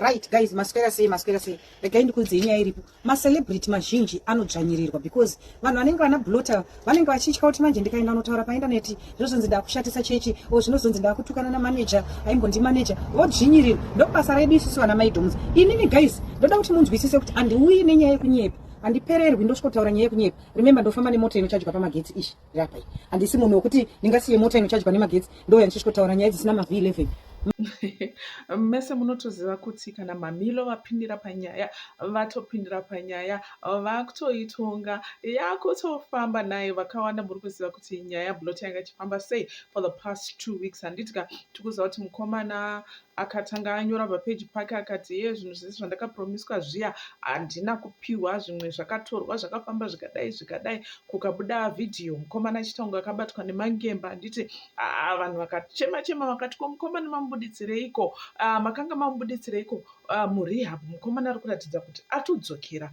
Right guys, maswera sei maswera sei. Regai ndikuudze nyaya iripo. Ma celebrity mazhinji anodzvanyirirwa because vanhu vanenge vana blotter vanenge vachitya kuti manje ndikaenda unotaura pa internet zvozonzi ndakushatisa chechi o zvinozonzi ndakutukana na manager aimbondi manager vodzvinyirirwa. Ndokubasa redu isusu vana maidoms. Inini guys, ndoda kuti munzwisise kuti andiuyi nenyaya yekunyepa. Andipererwi ndosvikotaura nyaya yekunyepa. Remember ndofamba nemota inochajwa pamagetsi ishi. Rapai. Handisi munhu wekuti ndingasiye mota inochajwa nemagetsi ndouya ndichisvikotaura nyaya dzisina mavhi 11. mese munotoziva kuti kana mamilo vapindira panyaya vatopindira panyaya vakutoitonga yakutofamba naye vakawanda muri kuziva kuti nyaya blot yanga ichifamba sei for the past two weeks handiti ka tikuziva kuti mukomana Akatanga anyora pa page pake akati hee zvinhu zvese zvandaka promiswa zviya handina kupihwa zvimwe zvakatorwa zvakafamba zvikadai zvikadai kukabuda video mukomana Chitangu akabatwa nemangemba handiti haa vanhu vakachema chema vakati ko mukomana mamubuditsireiko uh, makanga mamubuditsireiko uh, ah, murehab mukomana ari kuratidza kuti atodzokera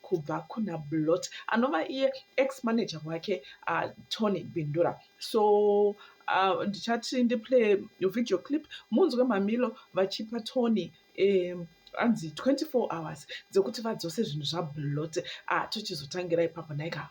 kubva kuna Blot anova iye ex manager wake uh, Tony Bindura so uh, ndichati ndiplay video clip munzwe mamilo vachipa Tony um, anzi 24 hours dzekuti vadzose zvinhu zvablot uh, ah, tochizotangira ipapo naika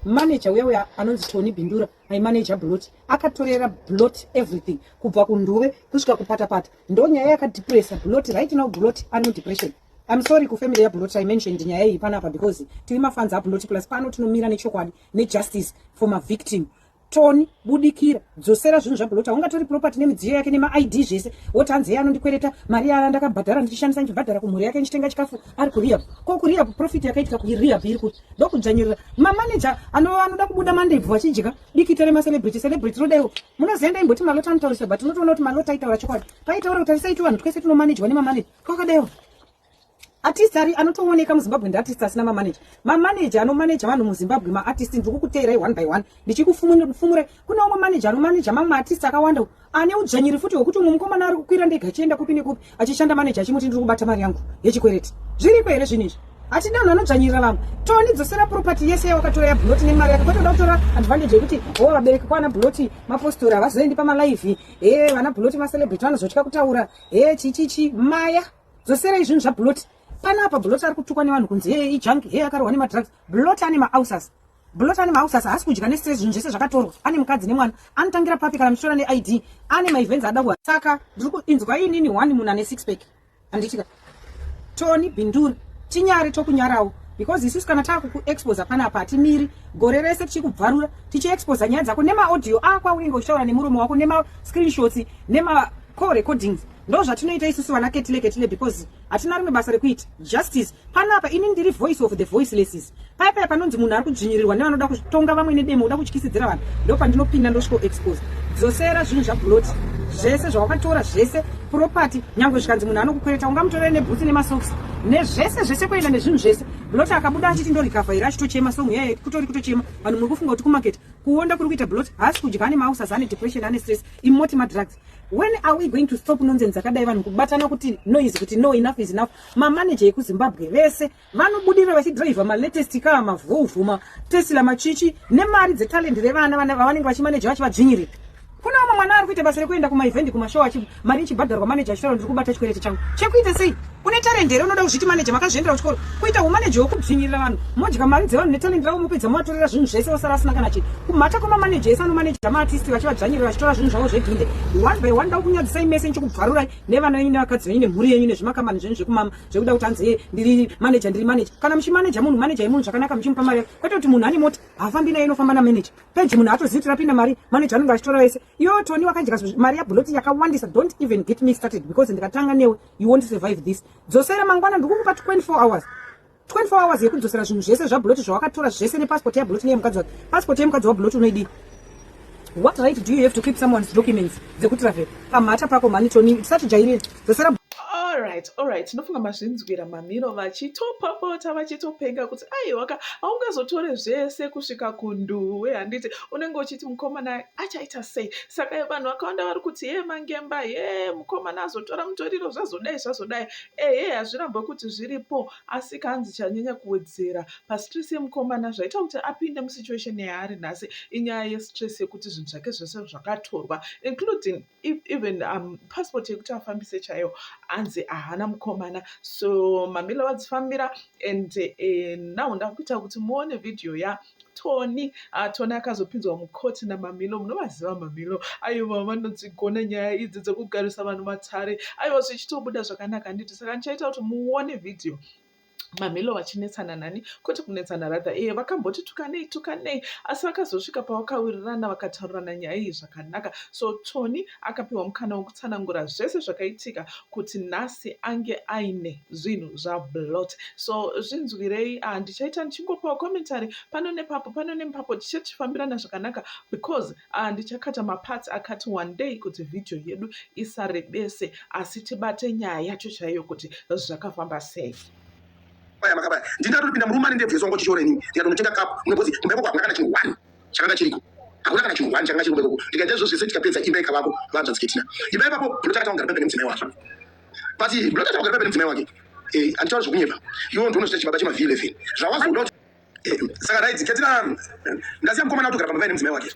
manager uya uya anonzi tony bindura aimanaja blot akatorera blot everything kubva kunduve kusvika kupatapata ndonyaya yakadepressa blot right now blot anodepression I'm sorry ku family ya Buloti I mentioned nyaya iyi panapa because tiri mafans a Buloti plus pano tinomira nechokwadi ne justice for ma victim toni budikira dzosera zvinhu zvabulota ungatori property nemidziyo yake nemaid zvese woti hanzi iye anondikwereta mari yaya ndakabhadhara ndichishandisa ndichibhadhara kumhuri yake ndichitenga chikafu ari kurehab ko kurehab profit yakaitika kurehab iri kuti ndokudzvanyirira mamaneja anoda kubuda mandebvu vachidya dikita remacelebrity celebrity rodaiwo munozienda imboti malota anotaurisa but unotoona kuti malota aitaura chokwadi paitaura kuti arisaiti vanhu twese tinomanejwa nemamaneja kwakadero artist ari anotooneka muzimbabwe ndiartist asina mamanager mamanager anomanager vanhu muzimbabwe maartist ndiri kukuteerai one by one ndichikufumure kune umwe manager anomanager mamwe maartist akawanda ane udzvanyiri futi hwekuti umwe mukomana ari kukwira ndega achienda kupi nekupi achishanda manager achimuti ndiri kubata mari yangu yechikwereti zviriko here zvinhu izvi hatida vanhu vanodzvanyirira vamwe toni dzosera property yese yawakatora yabhuloti nemari yako kwatoda kutora advantage yekuti ho vabereki kwana bhuloti mapostori havazoendi pamalive he vana bhuloti macelebrity vanozotya kutaura Hey chichichi maya dzosera izvinhu zvaBlot. Pana apa Blot ari kutukwa nevanhu kunzi hey ijunk hey akarohwa nemadrugs. Blot ane maulcers. Blot ane maulcers haasi kudya nestress zvinhu zvese zvakatorwa. Ane mukadzi nemwana. Anotangira papi kana muchitora neID. Ane maevents ada kuha. Saka ndiri kuinzwa inini one munhu ane six pack. Handitika. Tony Bindura tinyare tokunyarawo because isusu kana taakukuexposa panapa hatimiri gore rese tichikubvarura tichiexposa nyaya dzako nemaaudio ako aunenge uchitaura nemuromo wako nemascreenshots nemacall recordings ndo zvatinoita isusu vana ketile ketile because hatina rimwe basa rekuita justice panapa ini ndiri voice of the voicelesses paya paya panonzi munhu ari kudzvinyirirwa nevanoda kutonga vamwe nedemo uda kutyisidzira vanhu ndo pandinopinda ndosviko expose dzosera zvinhu zvabuloti zvese zvawakatora zvese property nyangwe zvikanzi munhu anokukwereta ungamutorere nebhutsi nemasocks nezvese zvese kuenda nezvinhu zvese buloti akabuda achiti ndorikavha here achitochema song yeye kutori kutochema vanhu muri kufunga kuti kumaketi kuonda kuri kuita buloti haasi kudya ane mausas ane depression ane stress imoti madrugs when are we going to stop nonsense akadai vanhu kubatana kuti noise kuti no enough is enough mamaneja ekuzimbabwe vese vanobudira vachidriver malatest car mavolvo matesla machichi nemari dzetalent revana vavanenge vachimaneja vachivadzvinyirira kuna vamwe mwana ari kuita basa rekuenda kumaevhendi kumashow mari ichibhadharwa maneja achitaura ndiri kubata chikwereti changu chekuita sei une talent here unoda kuzviti maneja makazviendera kuchikoro kuita umaneja wekudzvinyirira vanhu modya mari dzevanhu netalent ravo mopedza movatorera zvinhu zvese vosara asina kana chii kumhata kwemamaneja ese anomaneja maartisti vachivadzvanyirira vachitora zvinhu zvavo zveginde one by one ndaukunyadzisai mese ndichikubvarurai nevana venyu nevakadzi venyu nemhuri yenyu nezvimakambani zvenyu zvekumama zvekuda kuti hanzi ndiri manager ndiri manager kana muchimanager munhu manager yemunhu zvakanaka muchimupa mari kwete kuti munhu ane mota haafambi naye inofamba namanager peji munhu haatozivi kuti rapinda mari manager anenge achitora wese iyo toni wakadya mari yabuloti yakawandisa don't even get me started because ndikatanga newe you won't survive this dzosera mangwana ndikukupa 24 hours 24 hours yekudzosera zvinhu zvese zvabuloti zvawakatora zvese nepassport yabuloti neyemukadzi wake passport yemukadzi wabuloti unoidii What right do you have to keep someone's documents dzekutravel pamhata pako mhani toni tisatijairire dzosera alright alright tinofunga mazvinzwira mamiro vachitopopota vachitopenga kuti aiwaka haungazotore zvese kusvika kunduwe handiti unenge uchiti mukomana achaita sei saka vanhu vakawanda vari kuti ye mangemba ye mukomana azotora mutoriro zvazodai zvazodai ehe hazvirambwe kuti zviripo asi kanzi chanyanya kuwedzera pastress yemukomana zvaita kuti apinde musituation yaari nhasi inyaya yestress yekuti zvinhu zvake zvese zvakatorwa including e-, even um, passport yekuti afambise chaiyo anzi ahana mukomana so mamila vadzifambira and uh, eh, now ndakuita kuti muone vhidhiyo ya tony uh, tony akazopinzwa mukoti namamilo munovaziva mamilo aiwa vanodzigona nyaya idzi dzekugarisa vanhu matare aiwa zvichitobuda zvakanaka handiti saka ndichaita kuti muone vhidhiyo Mamelo vachinetsana nani kwete kunetsana rather ee vakamboti tukanei tukanei asi vakazosvika pavakawirirana vakataurirana nyaya iyi zvakanaka so Tony akapiwa mukana wekutsanangura zvese zvakaitika kuti nhasi ange aine zvinhu zvaBlot so zvinzwirei ah, ndichaita ndichingopawo commentary pano nepapo pano nepapo tichifambirana zvakanaka because Ah, ndichakata maparts akati wandei kuti vhidhiyo yedu isarebese asi tibate nyaya yacho chaiyo kuti zvakafamba sei paya makabaya ndingatopinda murume ane ndebvu yesongo chishora inini ndikatonotenga kapu munokuti kumba ikoko hakuna kana chinhu one chakanga chiriko hakuna kana chinhu one chakanga chiri kumba ikoko ndikaita izvo zvese tikapedza imba ikavako vanzwa dziketina imba ipapo ndinotakata kugara pemberi nemudzimai wake but ndinotakata kugara pemberi nemudzimai wake eh, handitaura zvekunyepa iwo ndionochita chibaba chemavhii 11 zvawazoda kuti saka raidzi ketira ndasiya mukomana atogara pamba nemudzimai wake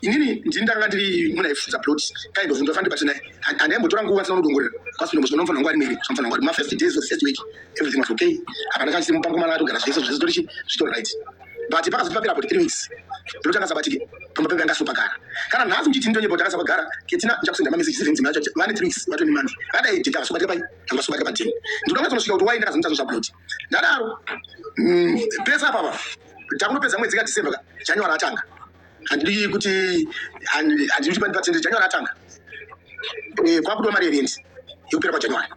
inini ndini ndanga ndiri muna ifudza plot kind of ndofanira ndibate naye andaimbotora nguva asina kudongorera kwasino muzvino mufana wangu ari miri mufana wangu ari ma first days of first week everything was okay apa ndakasimo pamukomana atogara zvese zvese tori zvitori right but pakazoti papera about three weeks plot akasabatike pamba pepe angasopagara kana nhasi muchiti ndonyepo takasapagara ketina ndichakusenda mameseji zivhenzi macho vane three weeks vatoni month vadai jeka vasobatira pai vasobatira patini ndinoda kuzonosvika kuti wai ndakazonita zvo zvaplot ndadaro mm, pesa mm, papa takunopedza mwedzi ka december ka january atanga handidi kuti handidi kuti pani patende january atanga eh, kwakudiwa mari yerendi yekupera kwajanuary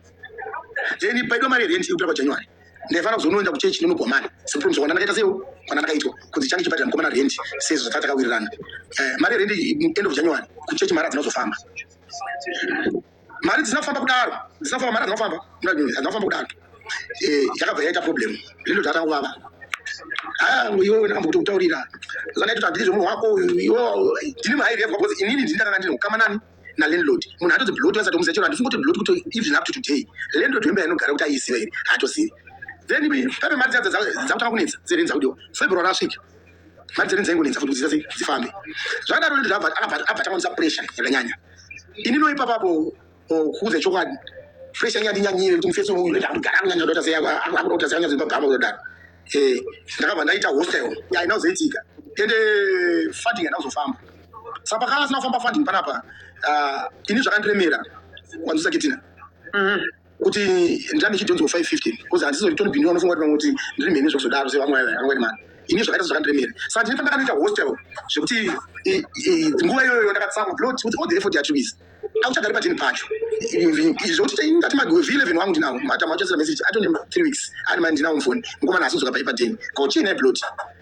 then paidiwa mari yerendi yekupera kwajanuary ndaifanira kuzonoenda kuchechi ndinogwamana sepromise kwana ndakaita sewo kwana ndakaitwa kunzi change chibhadhira mukomana rendi sezvo zvataa takawirirana eh, mari yerendi end of january kuchechi mari dzinozofamba mari dzisina kufamba kudaro dzisina kufamba mari hadzina kufamba hadzina kufamba kudaro eh, yakabva yaita problem zvinhu zvatanga kuvava ah, iwe wena kambokuti kutaurira zanaiti kuti handiti zvemunhu wako iwe ndini mahai revwa because inini ndini ndakanga ndine ukama nani nalandlord munhu hatodzi blot vasati omusa chero handifungoti blot kuti even up to today landlord wemba yanogara kuti aiziva here haatozivi then pape mari dzadza dzakutanga kunetsa dzerenza kudiwa february asvika mari dzene dzaingonetsa futi kudzidza dzifambe zvakadaro ndoto zvabva akabva atamamisa pressure yakanyanya ini noipa papo kuudza chokwadi pressure yanga yandinyanyire kuti mufesi uyu ndoita kuti gara kunyanya ndoita sei akuda kuti asanyanya zimba bhama kudodaro eh ndakabva ndaita hostel yaina kuzoitika ende funding yanda kuzofamba saka pakanga asina kufamba funding panapa ah, ini zvakandiremera kwanzisa kitina mhm. kuti ndirambe chidhonzo 515 because handizori toni bini vanofunga kuti vamwe kuti ndiri mhene zvokuzodaro sevamwe angwani mani ini zvakaita zvakandiremera saka ndine pandakanoita hostel zvekuti nguva iyoyo ndakatsamwa plot kuti all the effort yatwizi akuchagari patini pacho zvokuti taingati magwevhi 11 wangu ndinawo matama achasira message atone 3 weeks ari mani ndinawo mufoni ngoma nasi dzoka paipa deni kochii naye plot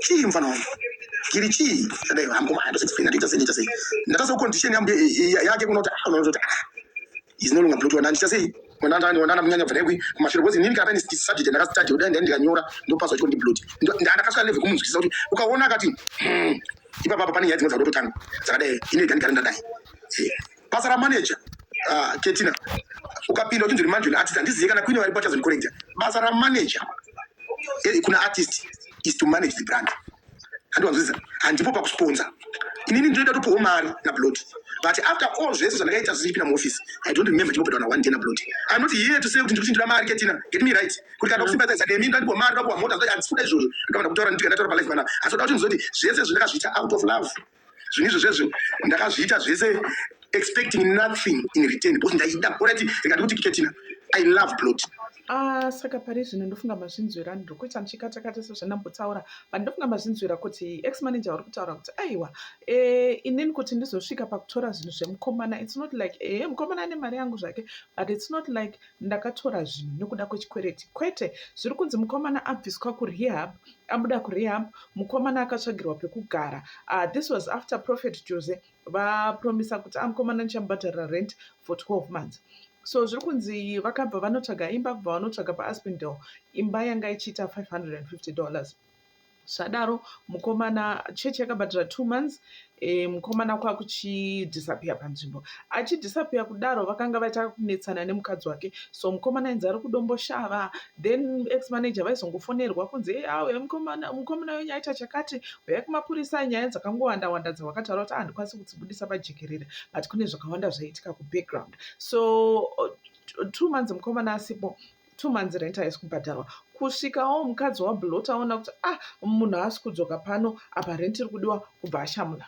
Chii mfana wangu? Giri chii? Ndadai hangu maya ndose explain ndita sei ndita sei. Ndatasa condition yambu yake kunoti ah unoti ah. Is no longer blood ndita sei? Mwana ndani wana munyanya vrekwi kumashure because nini kana ndi subject ndaka study udai ndai ndikanyora ndopaswa chiko ndi blood. Ndana kasvika level kumunzwisisa kuti ukaona akati hmm, ipapa papa pane nyaya dzimwe dzakutotanga dzakadai ine gani gani ndadai. basa ramanager uh, ketina ukapinda uchinzwa manje une artist handizive kana kuine varipo achazondikorrekta basa ramanager eh, kuna artist is to manage the brand handiwanzwisisa handipo pakusponsa inini ndinoita topiwo mari nablot but after all zvese zvandakaita zvichipinda muoffice i don't remember chimbopedawa na one day nablot im not here to say kuti ndiri kuchinjira mari ketina get me right kuti kana kusimbadzisa nemi ndandipo mari ndakuwa mota ndati handisikuda izvozvo ndikavana kutaura nditi kana taura palife pana asi oda kuti ndizoti zvese zvandakazviita out of love zvinhu izvo zvezvo ndakazviita zvese expecting nothing in return because ndaida korati rikati kuti kiketina i love plot Ah, saka pari zvino ndofunga mazvinzwira ndiri kuita muchikatakata sezvandambotaura but ndofunga mazvinzwira kuti ex manager vari kutaura kuti aiwa eh, inini kuti ndizosvika pakutora zvinhu zvemukomana its not like eh, mukomana ane mari yangu zvake but its not like ndakatora zvinhu nekuda kwechikwereti kwete zviri kunzi mukomana abviswa kurehab abuda kurehab mukomana akatsvagirwa pekugara uh, this was after prophet jose vapromisa kuti amukomana ah, ndichamubhadharira rent for 12 months so zviri kunzi vakabva vanotsvaga imba kubva vanotsvaga paaspindal imba yanga ichiita 550 dollars zvadaro mukomana church yakabhadhara two months e, mukomana kwakuchidhisapiya panzvimbo achidhisapiya kudaro vakanga vaita kunetsana nemukadzi wake so mukomana ainzi ari kudomboshava then ex manager vaizongofonerwa kunzi hey, awe mukomana mukomana wenyu aita chakati uya kumapurisa nyaya dzakangowanda wanda dzawakataura kuti handikwanisi ah, kudzibudisa pajekerere but kune zvakawanda zvaiitika kubackground so two months mukomana asipo two months rent haisi kubhadharwa kusvikawo mukadzi wablot aona kuti ah munhu haasi kudzoka pano apa rent iri kudiwa kubva ashamula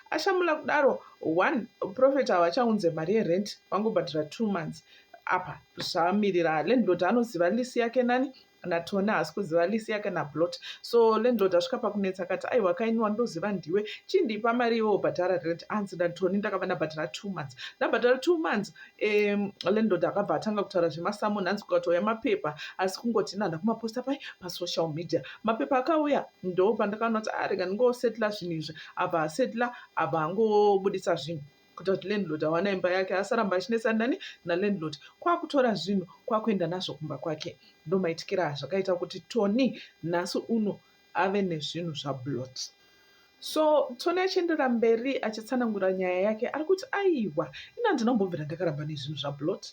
ashamula kudaro one profet havachaunze mari yerent vangobhadhara two months apa zvamirira landlord anoziva lisi yake nani natona haasi kuziva lisi yake nablot so landlord asvika pakunetsa akati aiwa kainiwa ndoziva ndiwe chindipa mari iwe ubhadhara rent anzi natoni ndakava ndabhadhara two months ndabhadhara two months um landlord akabva atanga kutaura zvemasamon hanzi kukatouya mapepa asi kungoti nanda kumaposta pai pasocial media mapepa akauya ndo pandakaona kuti arega ah, ndingosetla zvinhu izvi abva asetla abva angobudisa zvinhu kuita kuti landlord awana imba yake asaramba achinetsana nani nalandlord kwakutora zvinhu kwakuenda nazvo kumba kwake ndomaitikira zvakaita kuti tony nhasi uno ave nezvinhu zvaBlot. So Tony achienderera mberi achitsanangura nyaya yake ari kuti aiwa ini handina kumbobvira ndakaramba nezvinhu zvaBlot.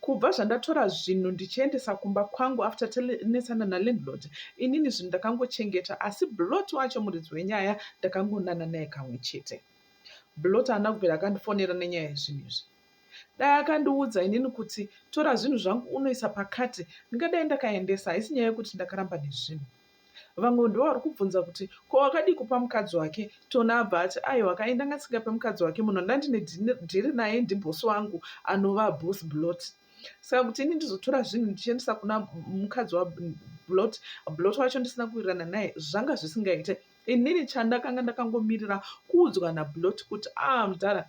Kubva zvandatora zvinhu ndichiendesa kumba kwangu after tanetsana nalandlord inini zvinhu ndakangochengeta asi Blot wacho muridzi wenyaya ndakangonana naye kamwe chete. Blot haana kubvira akandifonera nenyaya yezvinhu izvi. Dai akandiudza inini kuti tora zvinhu zvangu unoisa pakati ndingadai ndakaendesa haisi nyaya yekuti ndakaramba nezvinhu. Vamwe ndivo vari kubvunza kuti ko wakadii kupa mukadzi wake Tona abva ati aiwa ka inda ngasingape mukadzi wake munhu ndandine dhiri naye ndibhosi wangu anova boss blot saka kuti ini ndizotora zvinhu ndichiendesa kuna mukadzi wablot blot wacho ndisina kuwirirana naye zvanga zvisingaite inini chandakanga ndakangomirira kuudzwa nablot kuti a ah, mudhara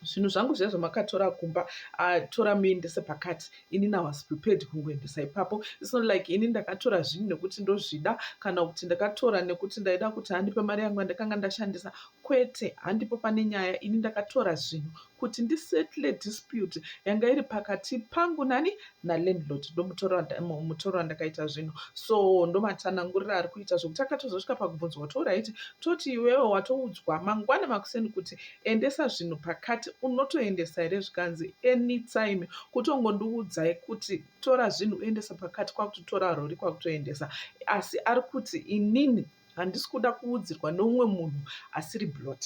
zvinhu zvangu zviya zvamakatora kumba atora muendese pakati ini na was prepared kungoendesa ipapo it's not like ini ndakatora zvinhu nekuti ndozvida kana kuti ndakatora nekuti ndaida kuti handipe mari yangu yandakanga ndashandisa kwete handipo pane nyaya ini ndakatora zvinhu kuti ndisettle dispute yanga iri pakati pangu nani nalandlord ndomutora mutora wandakaita zvinhu so ndomatsanangurira ari kuita zvokuti akatozosvika pakubvunzwa kuti orit toti iwewe watoudzwa mangwana makuseni kuti endesa zvinhu pakati unotoendesa here zvikanzi anytime kutongondiudzai kuti tora zvinhu uendesa pakati kwakutotora rori kwakutoendesa asi ari kuti inini handisi kuda kuudzirwa neumwe munhu asiri blot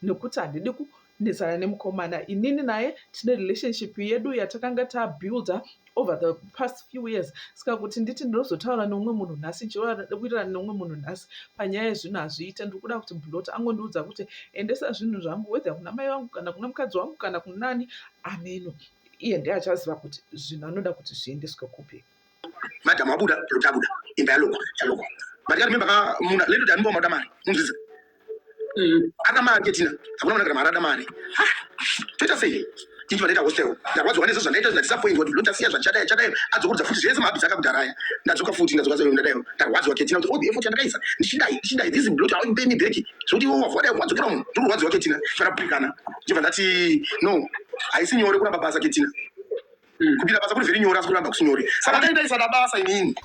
nekuti handidi kunetsana nemukomana inini naye tine relationship yedu yatakanga tabuilder over the past few years saka kuti nditi ndinozotaura neumwe munhu nhasi chiroanokuitirana neumwe munhu nhasi panyaya yezvinhu hazviite ndiri kuda kuti blot angondiudza kuti endesa zvinhu zvangu whether kuna mai vangu kana kuna mukadzi wangu kana kunani ameno iye ndiye achaziva kuti zvinhu anoda kuti zviendeswe kupi madam wabuda lokuti abuda imba yalokwa yalokwa but kati memba kamuna lendo kuti animba wamauda mari munzvidza mm. ada mari ketina hakuna mwana kana mari ada mari toita sei tinji vanoita hostel ndarwadziwa nezvo zvandaita zvinatisapoindwa kuti ndotasiya zvachadaya chadaya adzokurudza futi zvese mahabhisi akakudharaya ndadzoka futi ndadzoka zvayo ndadayo ndarwadziwa ketina kuti odi oh, effort yandakaisa ndichidai ndichidai this blot how pay me back zvokuti iwo wavadai wadzokera munhu ndiri kurwadziwa ketina kana bhikana ndibva ndati no haisi nyore kuramba basa ketina mm. kupinda basa kuri vhiri nyora asi kuramba kusinyore saka dai ndaisada basa inini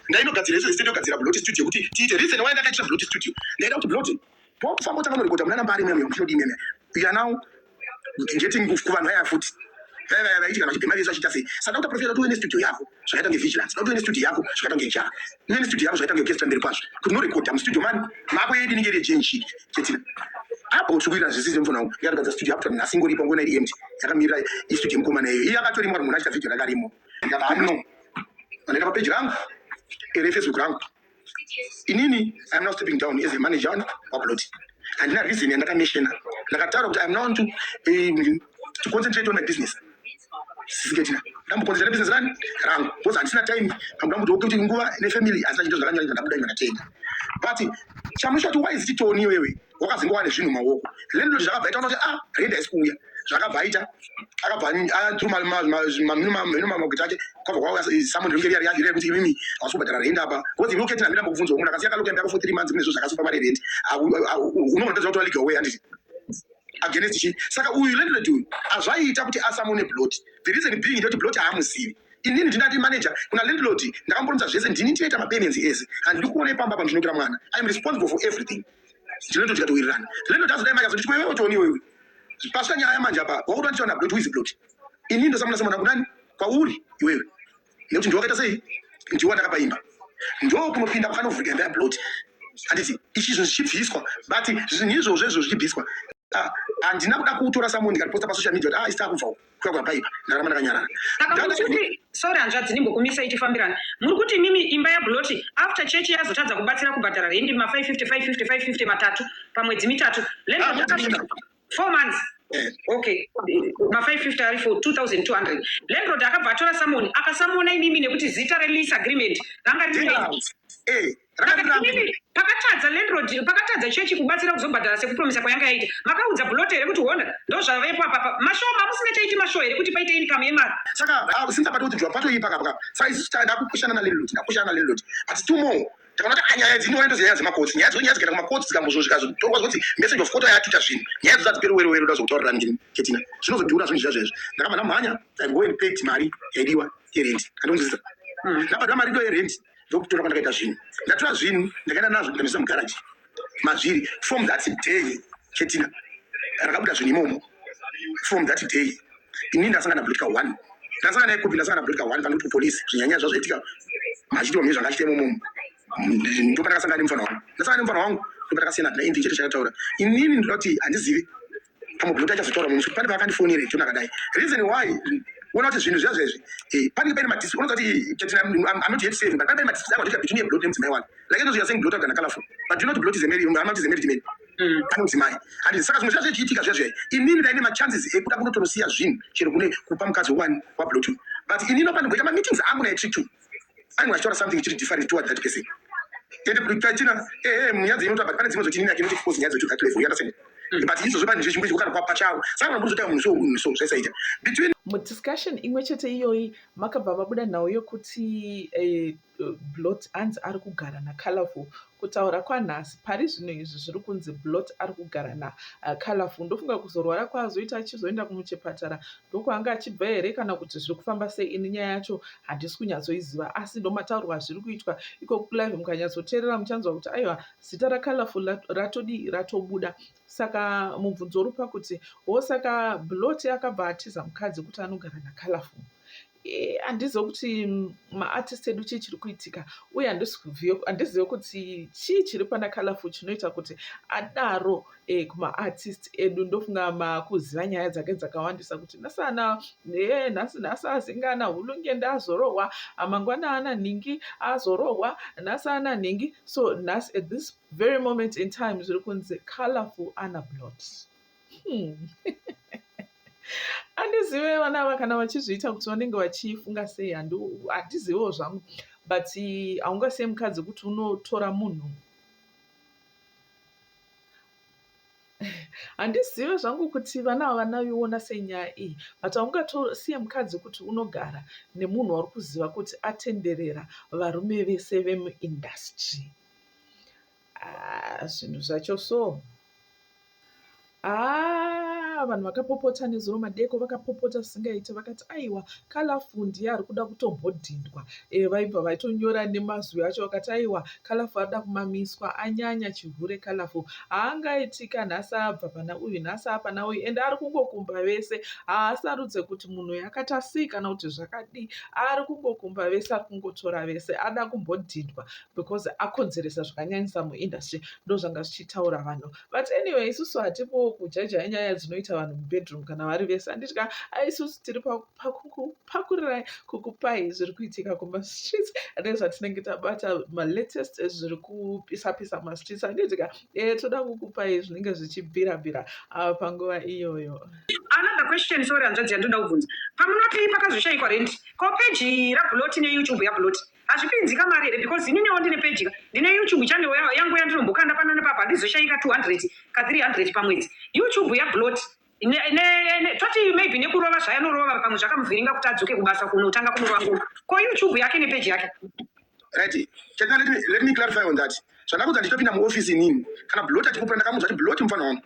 ndainogadzira izvo zisite ndogadzira blot studio kuti tiite reason why ndakaitira blot studio ndaida kuti blot pokufamba utanga norekota munana mbari meme muchinodi meme uya now getting kuvanhu vaya futi vaya vaya vaiti kana vachibhema vesu vachiita sei saka ndakuta profita kuti uve nestudio yako zvakaita ngevigilansi ndakuti uve nestudio yako zvakaita ngejara uve nestudio yako zvakaita ngeorchestra mberi kwazvo kuti norekota mustudio mani mako yedu inenge iri yejenshiki chete apo zvikuita zvisizvo mfana wangu yakagadza studio yakuta nhasi ingoripa ngona iri empty yakamirira istudio yemukomana iyoyo iye akatorimwa munhu achita video rakarimo ndakano vanoenda papeji rangu ere facebook rangu inini iam now stepping down as a manager on waplot handina reason yandakameshena ndakataura kuti iam now to, uh, to concentrate on my business Sisiketina ndambokonzera business rani rangu because handisina time pakuda kuti oke kuti nguva nefamily handisina chito zvakanyanya ndabuda ino ndatenga but chamusha kuti waizi titoni iwewe wakazingova nezvinhu maoko landlord zvakabva ita kuti ah rent haisi kuuya zvakabva aita akabva atrumamagwiti ake kwabva kwauya someone ringe riya riya kuti imimi hausi kubhadhara rent apa because iwe uketina hamina mbokubvunza munhu akasiya kalokembe ako for three months kune zvo zvakasupa mari rent unoona ndozvakutora legal way handiti against chi saka uyu landlord uyu azvaiita kuti asamone blot the reason being ndoti blot haamuzivi inini ndinati manager kuna landlord ndakamboronza zvese ndini tinoita mapenenzi ese handidi kuona ipamba pandinokira mwana iam responsible for everything ndinoto tikatowirirana landlord azodai maka zoti chiwewe otoni iwewe pasvika nyaya yamanje apa wakutoandichaona blot who is blot inini ndosamuna samuna kunani kwauri iwewe nekuti ndiwo akaita sei ndiwo andakapa imba ndo kunopinda kwakanovhurika imba yabloti handiti ichi zvinhu zvichibviswa but zvinhu izvozvo izvo zvichibviswa ah, handina kuda kutora samunhu ndikariposta pasocial media kuti ah, isita kubvawo kuya kwapaipa ndakaramba ndakanyarara sorry hanzvadzi ndimbokumisa ichifambirana muri kuti imimi imba yabloti after chechi yazotadza kubatsira kubhadhara rendi ma 550 550 550 matatu pamwedzi mitatu ah, four months eh. okay ma550 ari for 2200 landlord akabva atora samoni akasamona imimi nekuti zita release agreement ranga riri eh, pakatadza landlord pakatadza chechi kubatsira kuzobhadhara sekupromisa kwayanga yaita makaudza blote here kuti hona ndozvavepo apapa mashoo mamusina chaiti mashoo here kuti paite income yemari saka ah, since apatokuti bva patoipa kapaka saizi ndakupushana nalandlord ndakupushana nalandlord but two more tikaona kuti anyaya dzino ndo nyaya dzemakotsi nyaya dzo nyaya dzikaenda kumakotsi dzikambozo zvikazotorwa zvoti message of court yatuta zvinhu nyaya dzo dzadziperi wero wero ndazotaurira ndini ketina zvinozodhura zvinhu zviya zvezvo ndakabva ndamhanya i go and pay mari yaidiwa yerent andonzisa hmm. ndabva ndamari ndo yerent ndokutora kwandakaita zvinhu ndatora zvinhu ndakaenda nazvo ndamisa mugaraji mazviri from that day chetina rakabuda zvinhu imomo from that day ini ndasangana blutika one ndasangana yekupi ndasangana blutika one panoti kupolisi zvinyanya zvazvaitika machiitwa mune zvanga achiita imomomo ndo pandakasangana nemufana wangu ndasangana nemufana wangu ndo pandakasiyana naye ndichete chakataura inini ndinoda kuti handizivi pamwe kuti achazotaura mumwe pane paakandifonere jona akadai reason why uona kuti zvinhu zviya zvezvi eh, panenge paine madisi unoza kuti eh, chatina i'm not yet saving but pane madisi akwatika between your blot nemudzimai wake like those you are saying blot kana colorful but you know blot is a married amount is a married man mm. pane mudzimai and saka zvimwe zviya zvichiitika zviya zviya inini ndaine machances ekuda kunotonosiya zvinhu chero kune kupa mukadzi wani wablot but inini panogoita mameetings angu naye trick two Ani wachitaura something chiri different toward that person. Ende kutachina ehe eh, munyadzi inota but pane dzimwe dzoti nini akinoti because nyadzi to that level. You understand? Mm. But izvo zvepanhu zvechimbuzi kugara kwa pachawo. Saka mambo zvotaura munhu so munhu so zvaisaita. Between mu discussion imwe chete iyoyi makabva vabuda nhau yokuti eh, blot hanzi ari kugara na colorful Kutaura kwanhasi, pari zvino izvi zviri kunzi Blot ari kugara na uh, Colorful. Ndofunga kuzorwara kwaazoita achizoenda kumuchepatara ndokwaanga achibva here kana kuti zviri kufamba sei ini nyaya yacho handisi kunyatsoiziva asi ndomataurwa zviri kuitwa iko kulive mukanyatsoteerera muchanzwa kuti aiwa zita raColorful ratodii ratobuda saka mubvunzo uri pakuti wo saka Blot akabva atiza mukadzi kuti anogara naColorful handizive kuti maartist edu chii chiri kuitika uye handizive kuti chii chiri pana colorful chinoita kuti adaro e, kumaartist edu ndofunga makuziva nyaya dzake dzakawandisa kuti nasana e, nhasi nhasi azingana hulungende azorohwa amangwana ana nhingi azorohwa nhasi ana nhingi so nhasi at this very moment in time zviri kunzi colorful ana blot Hmm. andizive vana ava kana vachizviita kuti vanenge vachifunga sei handizivewo zvangu but haungasiye mukadzi kuti unotora munhu handizive zvangu kuti vana ava vanaviona senyaya iyi but haungatosiye mukadzi kuti unogara nemunhu wauri kuziva kuti atenderera varume vese vemuindastry Ah, zvinhu zvacho so ah, vanhu vakapopota nezuro madeko vakapopota zvisingaite vakati aiwa kalafu ndiye ari kuda kutombodhindwa e, eh, vaibva vaitonyora nemazwi acho vakati aiwa kalafu ari da kumamiswa anyanya chihure kalafu haangaitika nhasi abva pana uyu nhasi apana uyu ende ari kungokumba vese haasarudze kuti munhu uyu akati asii kana kuti zvakadii ari kungokumba vese ari kungotora vese ada kumbodhindwa because akonzeresa zvakanyanyisa muindustry ndozvanga zvichitaura vanhu but anyway isusu hatipowo kujajaha nyaya dzinoita vanhu mubedroom kana vari vese anditya aisusu tiri pakukupakurirai kukupai zviri kuitika kumastreets nezvatinenge tabata malatest zviri kupisa pisa mastreets anditya e eh, toda kukupai zvinenge zvichibvira bvira ava ah, panguva iyoyo another question sorry hanzvadzi yandinoda kubvunza pamunoti pakazoshaikwa rendi ko peji rabuloti neyoutube yabuloti hazvipinzi kamari here because ininewo ndine peji ka ndine youtube channel ya- yangu yandinombokanda pano nepapa handizoshayika 200 ka 300 pamwedzi youtube yablot Ne- ne- ne- toti maybe nekurova zvayanorova pamwe zvakamuvhiringa kuti adzoke kubasa kunotanga kunorova ko youtube yake nepeji yake Right. Can I let me let me clarify on that. Zvandakudza ndichitopinda muoffice inini. Kana blot achikupura ndakamuudza kuti blot mufana wangu.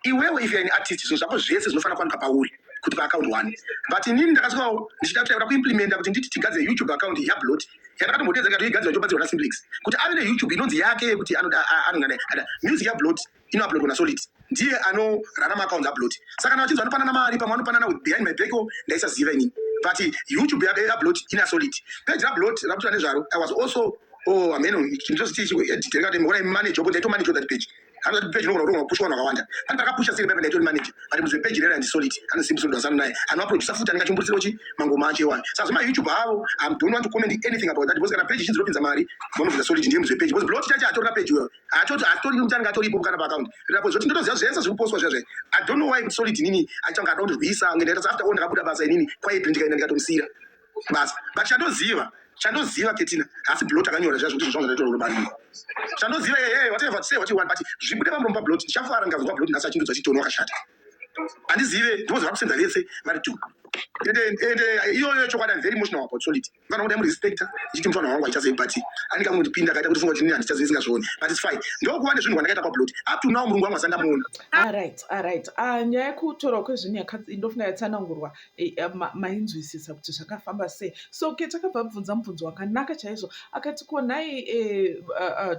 Iwewe if you are an artist zvinhu zvako zvese zvinofana kuwanika pauri kuti pa account one. But inini ndakasvikawo ndichida kuti kuimplementa kuti nditi tigadzire YouTube account ya blot. Yandakatombotedza ikati igadzirwa ichobadzirwa na Simplex. Kuti ave ne YouTube inonzi yake yekuti anoda anonga music ya blot. inouploadwa naSolid ndiye anorarama accounts upload saka kana vachinzi vanopanana mari pamwe vanopanana with behind my back ndaisaziva inini but youtube yaupload ina solid page raupload rakutoita nezvaro i was also oh ameno ndoziti chiediteri kati mona manager yopo ndaito manager that page anoti page inogona kutonga kupusha vanhu vakawanda ani takapusha siri pepe ndaito manager but muzve page rera ndisolid anosimbi solid wasana naye anoaproducer futi anenge achimburisiro chi mangoma acho iwayo saka zvema youtube avo i don't want to comment anything about that because kana page ichinzi ropinza mari vanobvisa solid ndiye muzve page because blot chacho atorina page iwayo atoti atori nekuti anenge atoripo kana paaccount rapo zvoti ndotoziva zvese zviri kupostwa zvazve i don't know why kuti solid inini achanga ada kundirwisa kunge ndaita seafter all ndakabuda basa inini quietly ndikaenda ndikatomusiyira basa but chandoziva chandoziva ketina hasi blot akanyora zvazvo kuti zvazvanga ndaitoro rubariro chandoziva yeye whatever say what you want but zvibude pamuromo pablot ndichafara ndikazwa blot nhasi achindudzwa chitono wakashata handizive ndivo zvavakusenza vese vari two ende ende iyoyo chokwadi am very emotional about solid Mfana kuti amurespecta ndichiti mfana wangu haichazei but ane kamwe kutipinda akaita kuti funga kuti nini handichazei isingazvioni but it's fine ndokuva nezvinhu kwandakaita pablot up to now murungu wangu asanga muona aright ah, aright ah, ah, nyaya yekutorwa kwezvinhu ndofunga yatsanangurwa eh, eh, mainzwisisa kuti zvakafamba sei so ke takabva bvunza mubvunzo wakanaka chaizvo akati ko nhai eh,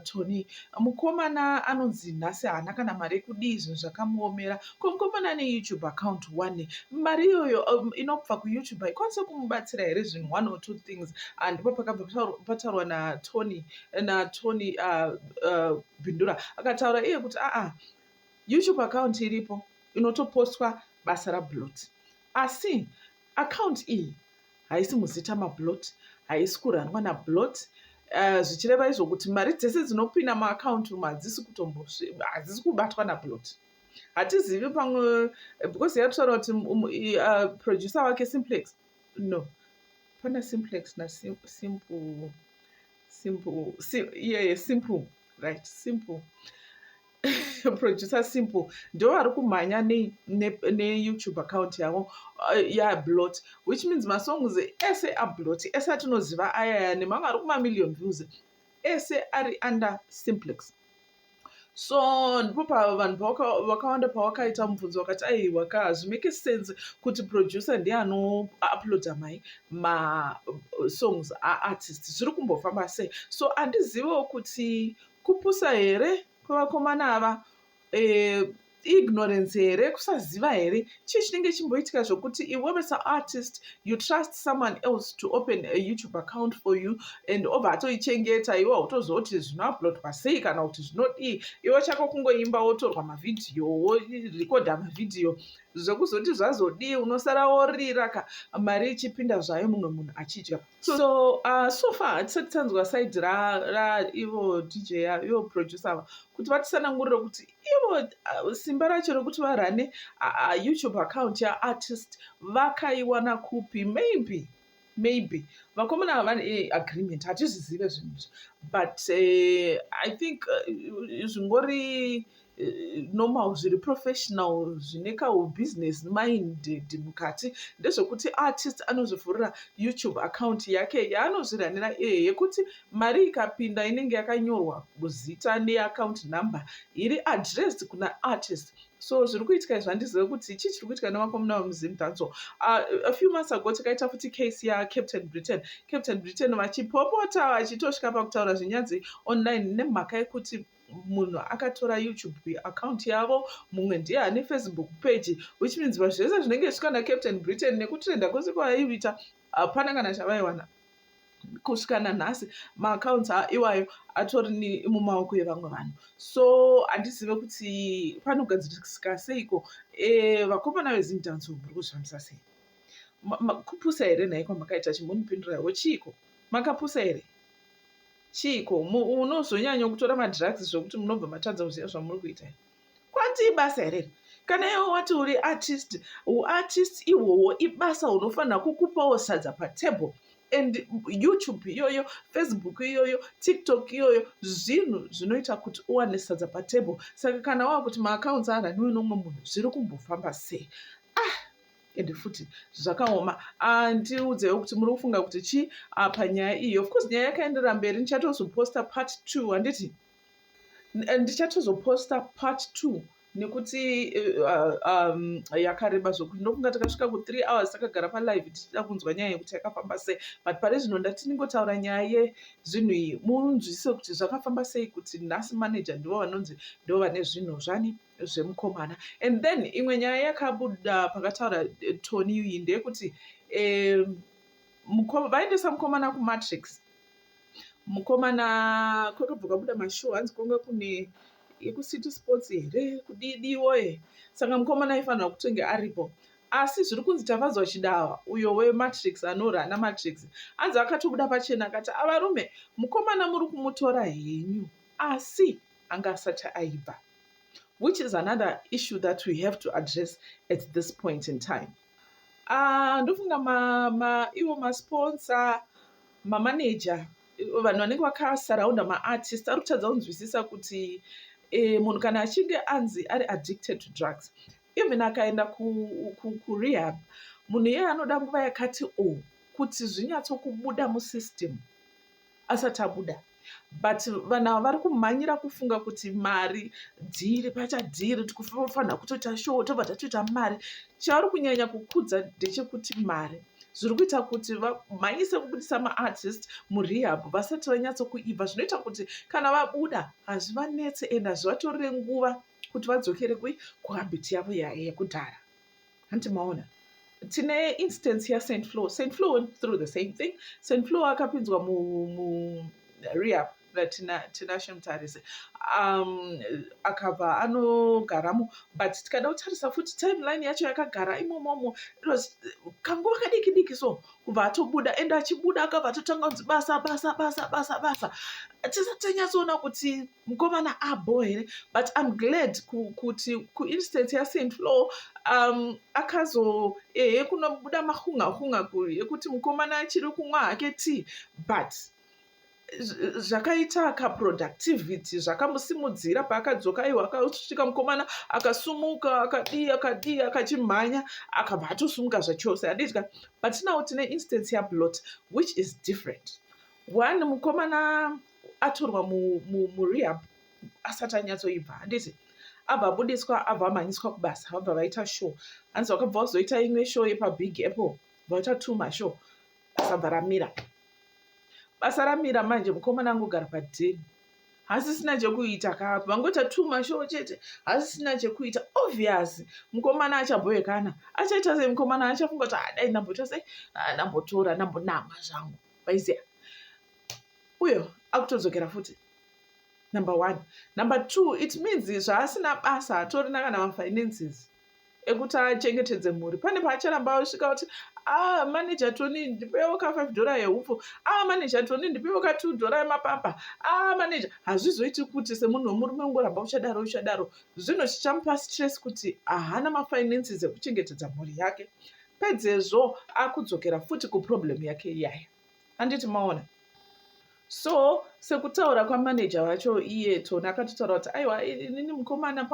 tony mukomana anonzi nhasi haana kana mari yekudii zvinhu zvakamuomera Kungomana ane YouTube account one mari iyoyo um, inobva kuYouTube haikwanise kumubatsira here zvinhu one or two things ah, ndipo pakabva pataurwa naTony naTony uh, uh, Bindura akataura iye kuti aa ah, YouTube account iripo inotopostwa basa raBlot asi account iyi haisi muzita maBlot haisi kurandwa naBlot Eh, zvichireva izvo kuti mari dzese dzinopinda muakaunti umu hadzisi kutombo hadzisi kubatwa naplot hatizivi pamwe because yatutaura kuti um, uh, producer wake simplex no pana simplex nasimple simple yeye simple right simple producer simple ndo vari kumhanya neyoutube account yavo uh, yablot which means masongs ese ablot ese atinoziva ayaya nemamwe ari kumamillion views ese ari under simplex so ndipo pavanhu vakawanda pawakaita mubvunzo wakati aiwa ka hazvimake sense kuti producer ndiye anouploada mai masongs aartist zviri kumbofamba sei so andizivewo kuti kupusa here kwevakomana ava eh, ignorance here kusaziva here chii chinenge chimboitika zvokuti iwewe saartist you trust someone else to open a youtube account for you and obva atoichengeta iwe hautozoti zvinoaplodwa sei kana kuti zvinodii iwe chako kungoimba wotorwa mavhidhiyo worekodha mavhidhiyo zvekuzoti zvazodii unosara worira ka mari ichipinda zvayo mumwe munhu achidya so uh, so far hatisati tanzwa side ra, ra ivo dj ivo producer ava kuti vatisanangurire kuti ivo uh, simba racho rekuti varane uh, uh, youtube account yaartist vakaiwana kupi maybe maybe vakomana ava vane eh, agreement hatizvizive zvinhu izvi but uh, i think uh, zvingori uh, normal zviri professional zvine kahubusiness minded mukati ndezvekuti artist anozvivhurira youtube account yake yaanozviranira iye yekuti mari ikapinda inenge yakanyorwa zita neaccount number iri addressed kuna artist so zviri kuitika izvi handizive kuti chii chiri kuitika nevakomuna vemuzim danco uh, ah, a few months ago takaita futi case yacaptain britain captain britain vachipopota vachitosvika pakutaura zvenyadzi online nemhaka yekuti munhu akatora youtube account yavo mumwe ndiye ane facebook page which means vanhu zvese zvinenge zvisvika nacaptain britain nekutrenda kwese kwavaiita hapana kana chavaiwana kusvika nanhasi maaccounts iwayo atori mumaoko evamwe vanhu so handizive kuti panogadzirisika seiko eh, vakomana vezindanso muri kuzvifambisa sei kupusa here nhai kwamakaita chimunipindura yavo chiiko makapusa here Chiiko? Munozonyanya kutora madrugs zvekuti munobva matadza kuziva zvamuri kuita. Kwanzi ibasa here? Kana iwe wati uri artist, uartist ihwohwo ibasa hunofanira kukupawo sadza patable and YouTube iyoyo, Facebook iyoyo, TikTok iyoyo zvinhu zvinoita kuti uwane sadza patable. Saka kana wakuti maaccounts araniwe nomwe munhu zviri kumbofamba sei? Ah! ende futi zvakaoma andiudzewo kuti muri kufunga kuti chii apa nyaya iyi of course nyaya yakaendera mberi ndichatozoposta part two handiti ndichatozoposta part two nekuti uh, um, yakareba zvokuti ndofunga takasvika kuthree hours takagara palive tichida kunzwa nyaya yekuti yakafamba sei but pari zvino ndati ndingotaura nyaya yezvinhu iyi munzwisise kuti zvakafamba sei kuti nhasi manager ndivo vanonzi ndo vane zvinhu zvani zvemukomana and then imwe nyaya yakabuda pakataura eh, tony iyi ndeyekuti um, vaendesa mukomana kumatrix mukomana kwakabva kwabuda mashow hanzi kwanga kune yekucity sports here kudidiwo e saka mukomana aifanira kutenge aripo asi zviri kunzi tafadzwa chidawa uyo wematrix anora ana matrix hanzi akatobuda pachena akati avarume mukomana muri kumutora henyu asi anga asati aibva which is another issue that we have to address at this point in time ah, ndofunga ivo masponsa mamaneja vanhu vanenge vakasaraunda maartist ari kutadza kunzwisisa kuti e, munhu kana achinge anzi ari addicted to drugs even akaenda kurehab ku, ku munhu iyeye anoda nguva yakati o oh, kuti zvinyatsokubuda musystem asati abuda but vanhu ava vari kumhanyira kufunga kuti mari dhiri pacha dhiri tikufanira kutoita show tobva tatoita mari chavari kunyanya kukudza ndechekuti mari zviri kuita kuti vamhanyise kubudisa maartist murehab vasati vanyatsokuibva zvinoita kuti kana vabuda hazvivanetse and hazvivatorire nguva kuti vadzokere kuhabhiti yavo yekudhara hanti maona tine instance yasaint flow saint flow went through the same thing saint flow akapinzwa mureap natinashe mutarise um, akabva anogaramo but tikada kutarisa futi timeline yacho yakagara imomomo kanguva kadiki diki so kubva atobuda and achibuda akabva atotanga kunzi basa basa basa basa basa tisati tanyatsoona kuti mukomana abo here but im glad kuti kuinstance yasaint flow um, akazo ehe kunobuda mahunga hunga kuri yekuti mukomana achiri kumwa hake tea but zvakaita kaproductivity zvakamusimudzira paakadzoka iwo akasvika mukomana akasumuka akadii akadii akachimhanya akabva atosumuka zvachose adidya but now tine instance yablot which is different one mukomana atorwa murehab asati anyatsoibva handiti abva abudiswa abva amhanyiswa kubasa vabva vaita show hanzi vakabva vazoita imwe show yepabig apple vaita two mashow basa bva ramira basa ramira manje mukomana angogara padeni hasisina chekuita ka vangoita two mashow chete hasisina chekuita obvious mukomana achabhoyekana achaita sei mukomana achafunga kuti adai ah, ndamboita sei ah, ndambotora ndambonama zvangu vaiziva uyo akutodzokera futi number one number two it means zvaasina basa hatorina kana mafinances ekuti achengetedze mhuri pane paacharamba osvika kuti a ah, maneja toni ndipewo ka five dollar yeupfu a ah, maneja toni ndipewo ka two dollar yemapapa a ah, maneja hazvizoiti kuti semunhu wemurume ungoramba uchadaro uchadaro zvino chichamupa stress kuti ahana mafinances ekuchengetedza mhuri yake pedzezvo akudzokera futi kuproblem yake iyaya handiti maona so sekutaura kwamaneja vacho iye tony akatotaura kuti aiwa inini mukomana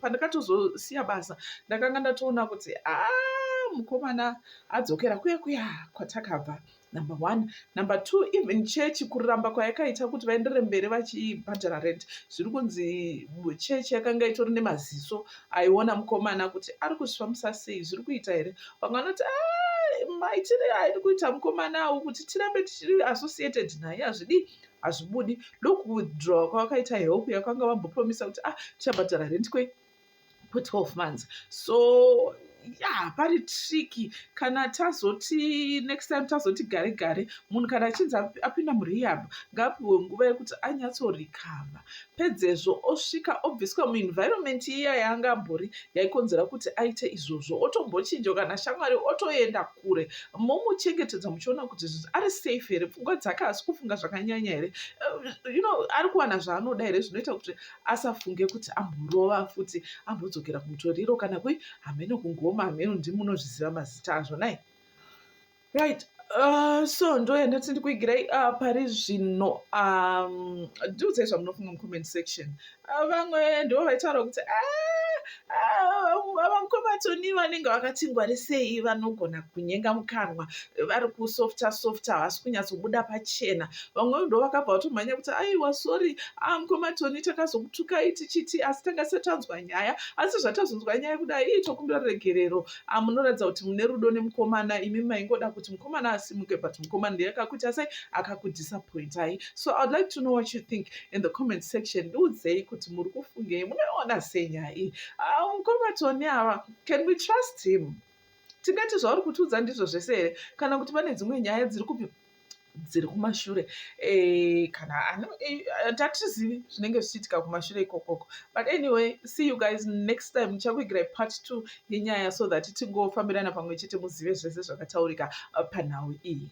pandakatozosiya basa ndakanga ndatoona kuti aa ah, mukomana adzokera kuya kuya kwatakabva number one number two even chechi kuramba kwayakaita kuti vaendere mberi vachibhadhara rent zviri kunzi chechi yakanga itori nemaziso aiona mukomana kuti ari kuzvifambisa sei zviri kuita here vamwe vanoti ah, maitire airi kuita mukomana awo kuti tirambe tichiri associated naye hazvidii hazvibudi ndokuwithdrawa kwavakaita help yakanga vambopromisa kuti ah tichabhadhara rent kwe 12 months so ya pari triki kana tazoti next time tazoti gare gare munhu kana achinzi apinda murehab ngaapiwe nguva yekuti anyatsorikava pedzezvo osvika obviswa muenvironment iya yaanga ambori yaikonzera kuti aite izvozvo otombochinja kana shamwari otoenda kure momuchengetedza muchiona kuti ari safe here pfungwa dzake haasi kufunga zvakanyanya here eh, you know ari kuwana zvaanoda here zvinoita kuti asafunge kuti amborova futi ambodzokera kumutoriro kana kui hameno kungoma hameno ndimi munozviziva mazita azvo nai right uh, so ndoyandati ndikuigirai uh, pari zvino um, ndiudzai zvamunofunga mucomment section uh, vamwe ndivo vaitaura kuti ah, vakombatoni vanenge vakati ngwarisei vanogona kunyenga mukanwa vari kusofta softa havasi kunyatsobuda pachena vamwe ndo vakabva vatomhanya kuti aiwa sori a ah, mukombatoni takazokutukai tichiti asi tanga tisati tanzwa nyaya asi zvatazonzwa nyaya kudai ii tokumbira ruregerero ah, munoratidza kuti mune rudo nemukomana imi maingoda kuti mukomana asimuke but mukomana ndiye akakuitasai akakudisappointai so iwould like to know what you think in the comment section ndiudzei kuti muri kufungei munoiona sei nyaya iyi ah, mukoma toni ava can we trust him tingati zvauri kutiudza ndizvo zvese here kana kuti pane dzimwe nyaya dziri kupi dziri kumashure eh, kana eh, tatizivi zvinenge zvichiitika kumashure ikokoko but anyway see you guys next time ndichakuigirai part two yenyaya so that tingofambirana pamwe chete muzive zvese zvakataurika eh, panhau iyi